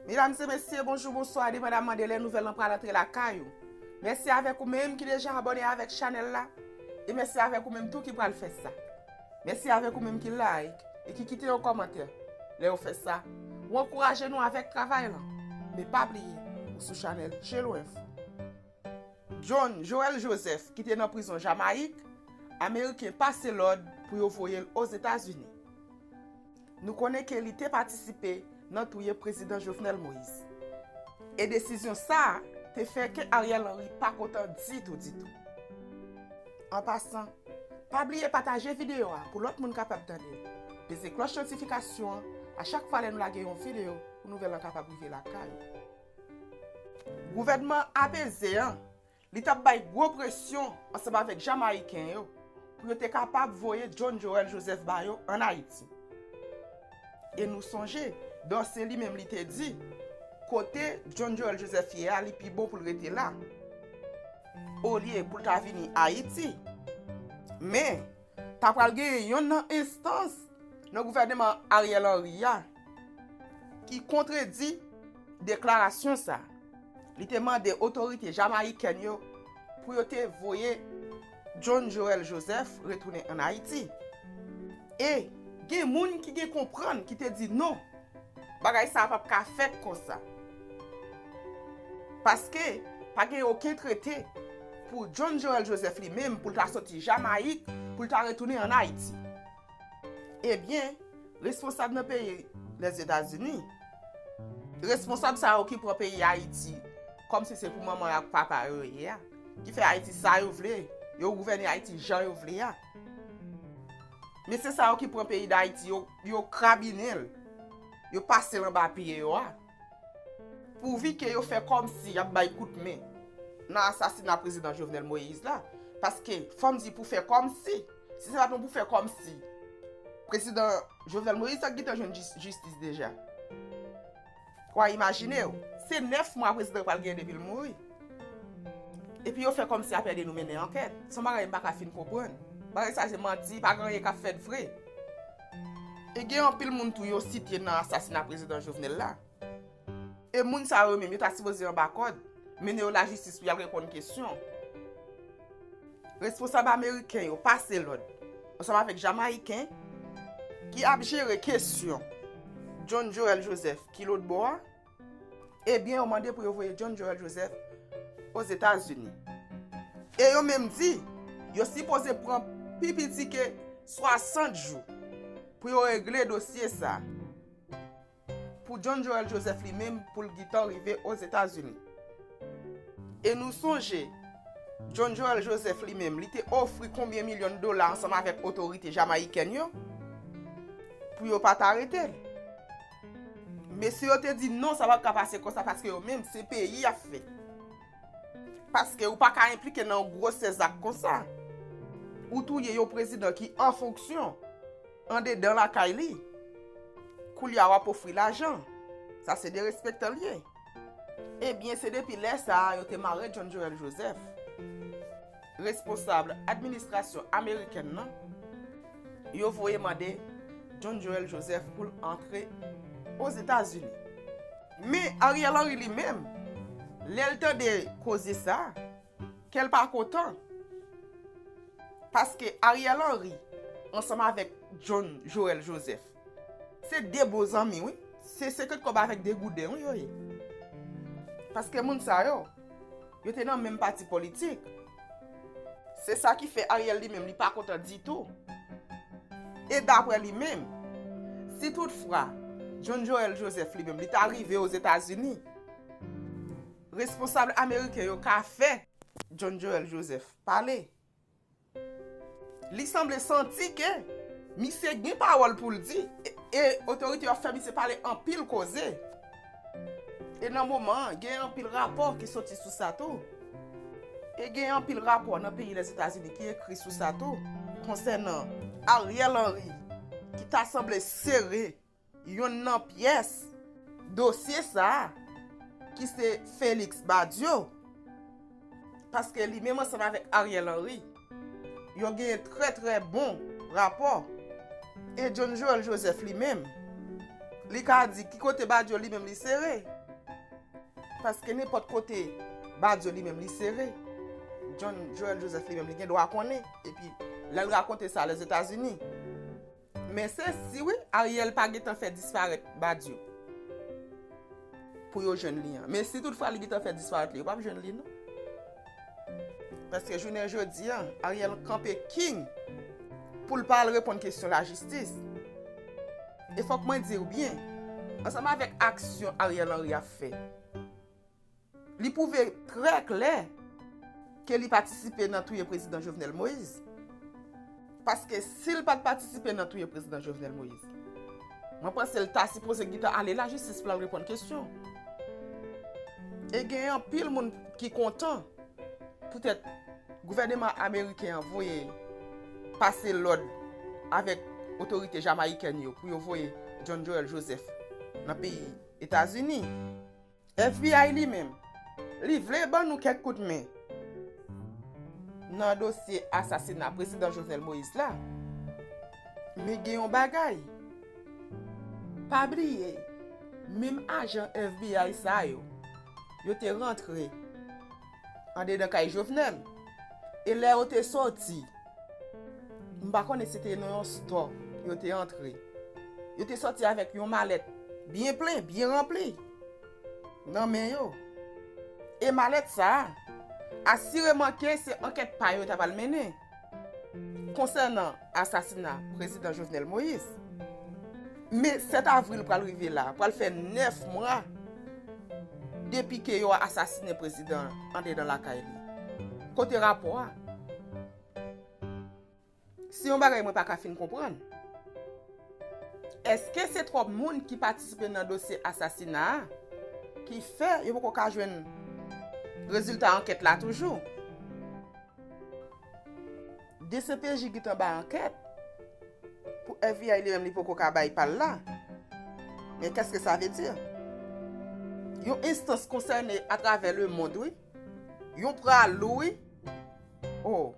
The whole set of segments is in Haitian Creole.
Medam se mesye, bonjou, bonswa, depandaman de lè nouvèl lan pral antre lakay ou. Mèsi avèk ou menm ki deja abòne avèk chanèl la, e mèsi avèk ou menm tou ki pral fè sa. Mèsi avèk ou menm ki like e ki kite yon kòmantè. Lè ou fè sa, ou ankouraje nou avèk travay lan. E pa bliye, ou sou chanèl Jelo Info. John Joël Joseph ki te nan prizon Jamayik, Ameriken pase lòd pou yo voye l Ozetazini. Nou konnen ke li te patisipe nan touye Prezidan Jovenel Moïse. E desizyon sa a te fè ke Ariel Henry pa kontan ditou ditou. An pasan, pa bliye pataje videyo a pou lòt moun kapab tande l. Peze klòch notifikasyon an a chak fwa lè nou lage yon videyo pou nouvèl lan kapab rive lakay ou. Gouvènman apeze an, li t ap bay gwo presyon ansanm avèk Jamayiken yo pou yo te kapab voye John Joel Joseph ba yo ann Ayiti. E nou sonje, Dorcé li menm li te di, kote John Joel Joseph ye a, li pi bon pou l rete la, olye pou l ta vini Ayiti. Men. Ta pral genyen yonn nan enstans nan gouvèneman Ariel Henry a ki kontredi deklarasyon sa. Li te mande otorite jamayikèn yo pou yo te voye John Joel Joseph retounen an Ayiti. E gen moun ki gen konprann ki te di non Bagay sa a pap ka fèt konsa. Paske, pa gen oken trete pou John Joel Joseph li menm pou l ta soti Jamayik pou l ta retounen an Ayiti. Ebyen, responsab nan peyi Lèzetazini, responsab sa yo ki pran peyi Ayiti kòm si se pou manman yo ak papa yo yo ye a, ki fè Ayiti sa yo vle, yo gouvène Ayiti jan yo vle a. Mesye sa yo ki pran peyi Dayiti yo, Yo krabinen l. Yo pase l anba pye yo a. Pouvi ke yo fè kòmsi y ap bay kout men nan asasina Prezidan Jovenel Moïse la. Paske, fò m di pou fè kòmsi, si se pa t yon pou fè kòmsi, Prezidan Jovenel Moïse ta gin tan jwenn jistis deja. Wa imajine w, se 9 mwa prezidan pral gen depi l mouri. Epi yo fè kòmsi apède nou mennen ankèt. Son bagay m pa ka fin konprann. Bagay sa se manti, pa gen anyen k ap fèt vre. E gen anpil moun tou yo site nan asasina prezidan Jovenel la. E moun sa yo menm yo ta sipoze anba kòd, mennen yo lajistis pou y al reponn kesyon. Responsab ameriken yo pase lòd ansanm avèk jamayiken ki ap jere kesyon John Joel Joseph ki lòt bò a, ebyen yo mande pou yo voye John Joel Joseph Ozetazini. E yo menm di, yo sipoze pran pi piti ke 60 jou pou yo regle dosye sa. Pou John Joel Joseph li menm pou l gitan rive Ozetazini. E nou sonje, John Joel Joseph li menm li te ofri konbyen milyon dola ansanm avèk otorite Jamayikèn yo pou yo pa t arete l. Mesye yo te di non sa pa t ka pase konsa paske yo menm se peyi y ap fè. Paske ou pa ka enplike nan yon gwosè zak konsa. Ou touye yon prezidan ki an fonksyon. Andedan lakay li. Koulya wap ofri lajan. Sa se derespektan l ye. Ebyen se depi lè sa a yo te mare John Joel Joseph. Responsable administrasyon amerikèn nan yo voye mande John Joel Joseph pou l antre Ozetazini. Men Ariel Henry li menm lè l tande koze sa. Kel pa kontan. Paske Ariel Henry ansanm avek John Joel Joseph se de bon zanmi wi. Se 50 kob avek degouden wi yo ye. Paske moun sa yo, yo te nan menm pati politik. Se sa ki fe Ariel li menm li pa kontan ditou. E dapre li menm, si tout fwa John Joel Joseph li menm li ta rive o Zetazini. Responsab ameriken yo ka fè John Joel Joseph pale. Li sanble santi ke misye gen pawòl pou l di e otorite yo ap fè misye pale anpil koze. E nan moman an, gen anpil rapò ki soti sou sa tou. E gen anpil rapò nan peyi Lèzetazini ki ekri sou sa tou konsènan Ariel Henry ki ta sanble sere. Youn nan pyès dosye sa a, ki se Félix Badio, paske li menm ansanm avèk Ariel Henry, yo gen trè trè bon rapò, e John Joël Joseph li menm, li ka di ki kote Badio li menm li sere, paske nenpòt kote Badio li menm li sere, John Joël Joseph li menm li gen dwa konnen, epi lè l rakonte sa Lèzetazini. Men se si wi Ariel pa gentan fè disparèt Badio pou yo jwenn li an. Men si tout fwa li gentan fè disparèt li yo pap jwenn li non. Paske jounen jodi an Ariel kanpe king pou l pa al reponn kesyon lajistis. E fòk mwen di w byen, ansanm avèk aksyon Ariel Henry ap fè. Li pwouve trè klè ke li patisipe nan touye Prezidan Jovenel Moïse. Paske si l pat patisipe nan touye Prezidan Jovenel Moïse, mwen panse l ta sipoze gintan ale lajistis pou l al reponn kesyon. E gen anpil moun ki kontan poutèt gouvèneman ameriken an voye pase lòd avèk otorite jamayikèn yo pou yo voye John Joel Joseph nan peyi Etazini. FBI li menm, li vle ban nou kèk kout men nan dosye asasina Prezidan Jovenel Moïse la. Men gen yon bagay, pa bliye, menm ajan FBI sa yo, yo te rantre. Andedan kay Jovenel. E lè yo te soti, m pa konnen si te nan yon stò yo te antre. Yo te soti avèk yon malèt byen plen, byen ranpli nan men yo. E malèt sa a, asireman ke se ankèt pa yo ta pral mennen. Konsènan asasina Prezidan Jovenel Moïse, me 7 avril pral rive la, pral fè 9 mwa depi ke yo asasine prezidan andedan lakay li. Kote rapò a? Se yon bagay mwen pa ka fin konprann. Eske se twòp moun ki patisipe nan dosye asasina a ki fè yo poko ka jwenn rezilta ankèt la toujou? Dcpj gntan bay ankèt pou FBI li menm li poko ka bay pal la men kèske sa vle di? Yon enstans konsène atravè le mond wi yon pra lou wi oh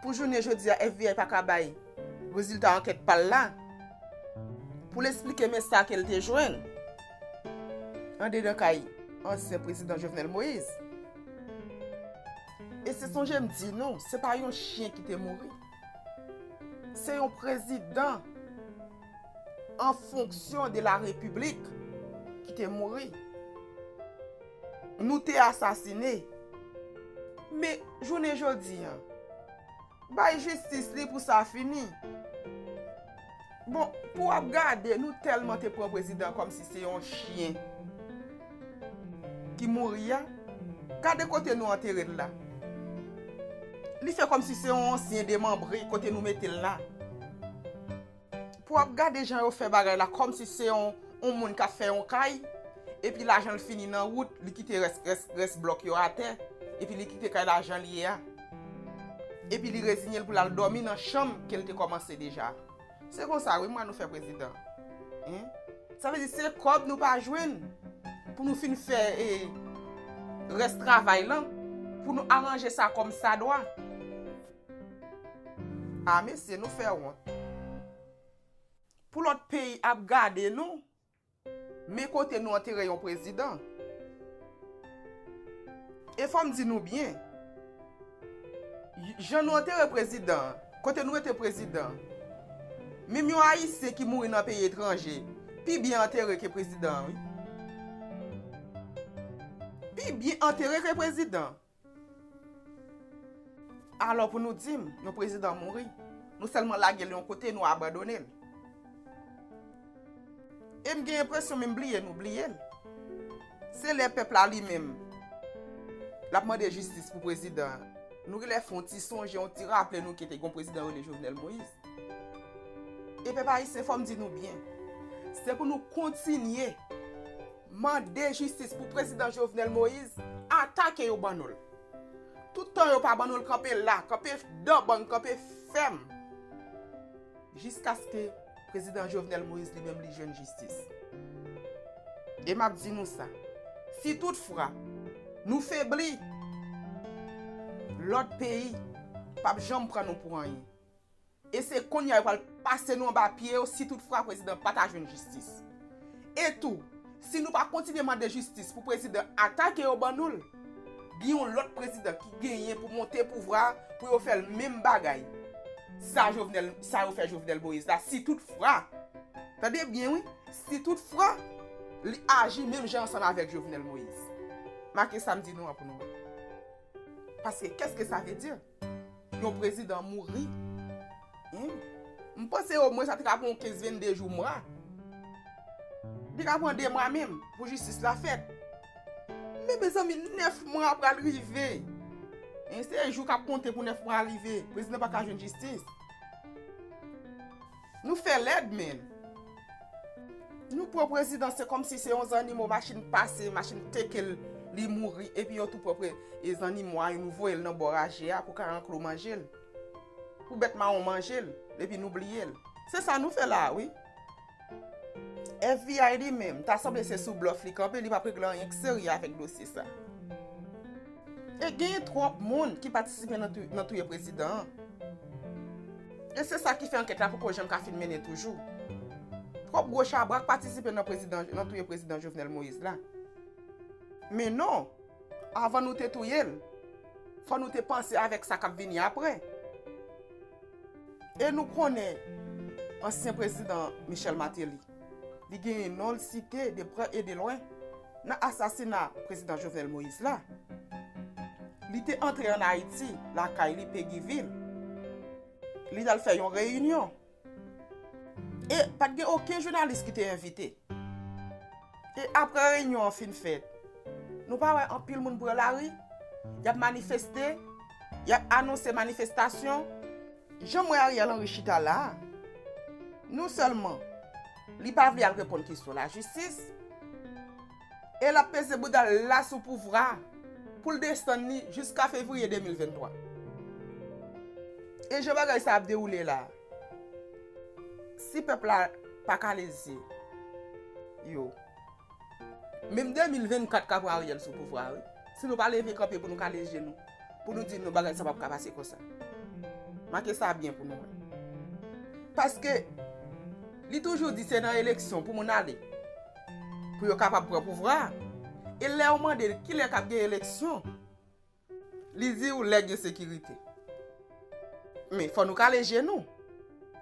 pou jounen jodia FBI paka bay rezilta ankèt pal la poul esplike men sa kel te jwenn andedan kay ansyen prezidan Jovenel Moïse. E se sonje m di nou, se pa yon chyen ki te mouri. Se yon prezidan an fonksyon de la repiblik ki te mouri. Nou te asasine. Men, jounen jodi an. Bay jistis li pou sa fini. Bon pou wap gade nou telman te pran prezidan kom si se yon chyen ki mouri ya. Gade kote nou antere l la. Li fè kom si se yon ansyen demanbre kote nou mete l la. Pou ap gade jan yo fè bagay la kòm si se yon moun kap fè yon kay epi lajan l fini nan wout li kite rès blòk yo atè epi li kite kay la jan l ye a epi li rezinye l pou l al dòmi nan chanm ke l te kòmanse deja se konsa wi mwa nou fè prezidan hein sa vle di se kòb nou pa jwenn pou nou fin fè rès travay lan pou nou aranje sa kòm sa dwa. Ah mesye nou fè wont. Pou lòt peyi ap gade nou. Men kote nou antere yon prezidan. E fòm di nou byen. Jan nou antere prezidan. Kote nou rete prezidan. Menm yon ayisyen ki mouri nan peyi etranje. Pi byen antere ke prezidan. Pi byen antere ke prezidan. Alò pou nou di m, yon prezidan mouri, nou sèlman lage l yon kote, nou abandone l. E m gen enpresyon menm bliye nou bliye l. Se lè pèp la li menm l ap mande jistis pou prezidan an, nou gen lè fè yon ti sonje, yon ti raple nou ke te gen yon prezidan yo rele Jovenel Moïse. E pèp ayisyen fò m di nou byen, se pou nou kontinye. Mande jistis pou prezidan Jovenel Moise ata ke yo ban nou l. Tout tan yo pa ban nou l kanpe la, kanpe dan ban, kanpe fèm jiskaske prezidan Jovenel Moise li menm li jwenn jistis. E map di nou sa, si tout fra nou febli, lòt peyi pap janm pran nou pou anyen. E se kounye a yo pral pase nou anba pye yo si tout fwa prezidan pa ta jwenn jistis. E tou, si nou pa kontinye mande jistis pou prezidan ata ke yo ban nou l, gen yon lòt prezidan ki genyen pou monte pouvwa a pou yo fè l menm bagay sa Jovenel, sa yo fè Jovenel Moïse la si tout fwa, tande byen wi, si tout fwa li aji menm jan ansanm avèk Jovenel Moïse. Make sa m di nou an pou nou wè. Paske kèske sa vle di? Yon prezidan mouri humm. M panse omwen sa te ka pran 15 22 jou mwa. Li te ka pran 2 mwa menm pou jistis la fèt. Men mezanmi 9 mwa pral rive. Se jou kap konte pou 9 mwa rive. Prezidan pa ka jwenn jistis. Nou fè lèd menn Nou pran prezidan se kòmsi se yon zannimo machin pase machin teke l li mouri epi yo tou pran pre e zannimo a nou voye l nan bò raje a pou karanklo manje l pou bèt mawon manje l epi nou bliye l se sa nou fè la a wi FBI li menm ta sanble se sou blòf li kanpe li pap regle anyen k serye avèk dosye sa e genyen twòp moun ki patisipe nan touye prezidan an. E se sa ki fè ankèt la poko janm ka fin mennen toujou. Twòp gwo chabrak patisipe nan touye prezidan Jovenel Moïse la. Men non, avan nou te touye l, fò nou te panse avèk sa k ap vini apre. E nou konnen ansyen prezidan Michel Martelly. Li genyen non l site de prè e de lwen nan asasina prezidan Jovenel Moïse la. Li te antre an Ayiti, lakay li Peguivil. Li t al fè yon reyinyon. E pa t gen oken jounalis ki te envite. E apre reyinyon an fin fèt, nou pa wè anpil moun pran lari, y ap manifeste, y ap anonse manifestasyon. Janm wè Ariel Henry chita la a, non sèlman li pa vle al reponn kesyon lajistis, e lap peze bouda l la sou pouvra a pou l desann li jiska fevriye 2023. E jan bagay sa ap dewoule la a, si pèp la pa kale zye yo. Menm 2024 ka pran Ariel sou pouvwa a wi. Si nou pa leve kanpe pou nou kale je nou, pou nou di nou bagay sa pap ka pase konsa. Make sa byen pou nou wè. Paske li toujou di se nan eleksyon pou moun ale, pou yo kapab pran pouvwa a. E lè ou mande l kilè kap gen eleksyon? Li di ou lè gen sekirite. Men, fò nou kale je nou.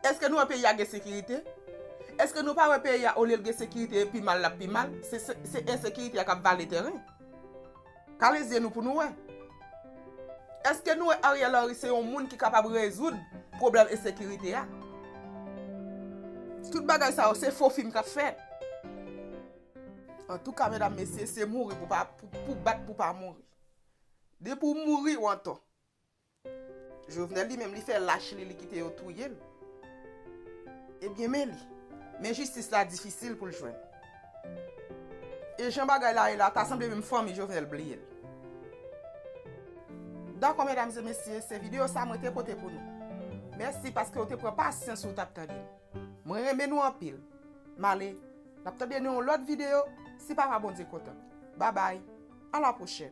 Eske nou wè peyi a gen sekirite? Eske nou pa wè peyi a olye l gen sekirite e pi mal l ap pi mal? Se ensekirite a k ap vale tèren. Kale zye nou pou nou wè. Eske nou wè Ariel Henry se yon moun ki kapab rezoud pwoblèm ensekirite a? Tout bagay sa yo se fo fim k ap fèt. Antouka medam mesye se mouri pou bat pou pa mouri. Depi w mouri w antò. Jovenel li menm li fè lach li li kite yo touye l. Ebyen men li. Men jistis la difisil pou l jwenn. E jan bagay la ye la ta sanble menm fanmi Jovenel bliye l. Dakò medam e mesye se video sa mwen te pote pou nou. Mèsi paske ou te pran pasyans ou tap tande m. Mwen renmen nou anpil. M ale. Nap tande nan yon lot video si papa Bondye kontan. Babay. A la prochèn.